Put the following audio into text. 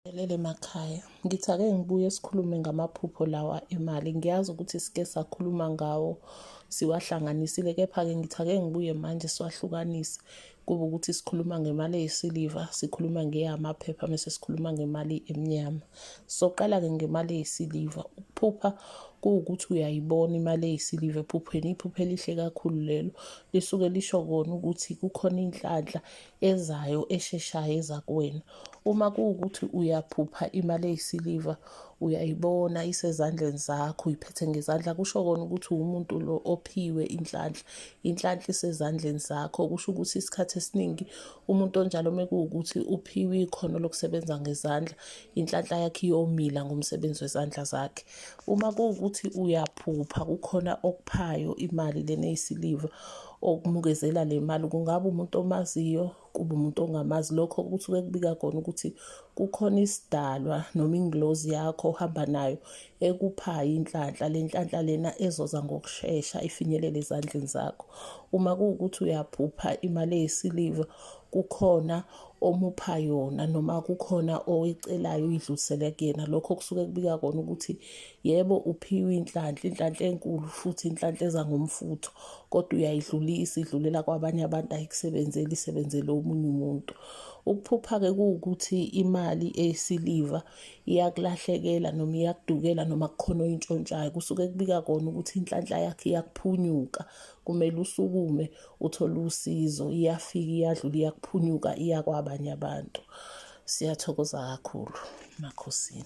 Elele makhaya ngithi ake ngibuye sikhulume ngamaphupho lawa emali ngiyazi ukuthi sike sakhuluma ngawo siwahlanganisile kepha-ke ngithi ake ngibuye manje siwahlukanise kube ukuthi sikhuluma ngemali eyisiliva sikhuluma ngeyamaphepha mese sikhuluma ngemali emnyama soqala-ke ngemali eyisiliva ukuphupha kuwukuthi uyayibona imali eyisiliva ephupheni iphupho elihle kakhulu lelo lisuke lisho kona ukuthi kukhona inhlanhla ezayo esheshayo eza kuwena uma kuwukuthi uyaphupha imali eyisiliva uyayibona isezandleni zakho uyiphethe ngezandla kusho kona ukuthi uwumuntu lo ophiwe inhlanhla inhlanhla isezandleni zakho kusho ukuthi isikhathi esiningi umuntu onjalo uma kuwukuthi uphiwe ikhono lokusebenza ngezandla inhlanhla yakhe iyomila ngomsebenzi wezandla zakhe uma kuwukuthi uyaphupha kukhona okuphayo imali lena eyisiliva okumukezela le mali kungaba umuntu omaziyo kube umuntu ongamazi lokho kusuke kubika kona ukuthi kukhona isidalwa noma ingilozi yakho ohamba nayo ekuphayo inhlanhla le nhlanhla lena ezoza ngokushesha ifinyelele ezandleni zakho uma kuwukuthi uyaphupha imali eyisiliva kukhona omupha yona noma kukhona owecelayo uyidlulisele kuyena lokho kusuke kubika kona ukuthi Yebo uphiwe inhlanhla, inhlanhla enkulu futhi inhlanhla eza ngomfutho, kodwa uyayidlulisa idlulela kwabanye abantu ayikusebenzeli isebenzele omunye umuntu. Ukuphupha-ke kuwukuthi imali eyisiliva iyakulahlekela noma iyakudukela noma kukhona oyintshontshayo. Kusuke kubika kona ukuthi inhlanhla yakhe iyakuphunyuka, kumele usukume uthole usizo. Iyafika iyadlula iyakuphunyuka iya kwabanye abantu. Siyathokoza kakhulu, Makhosini.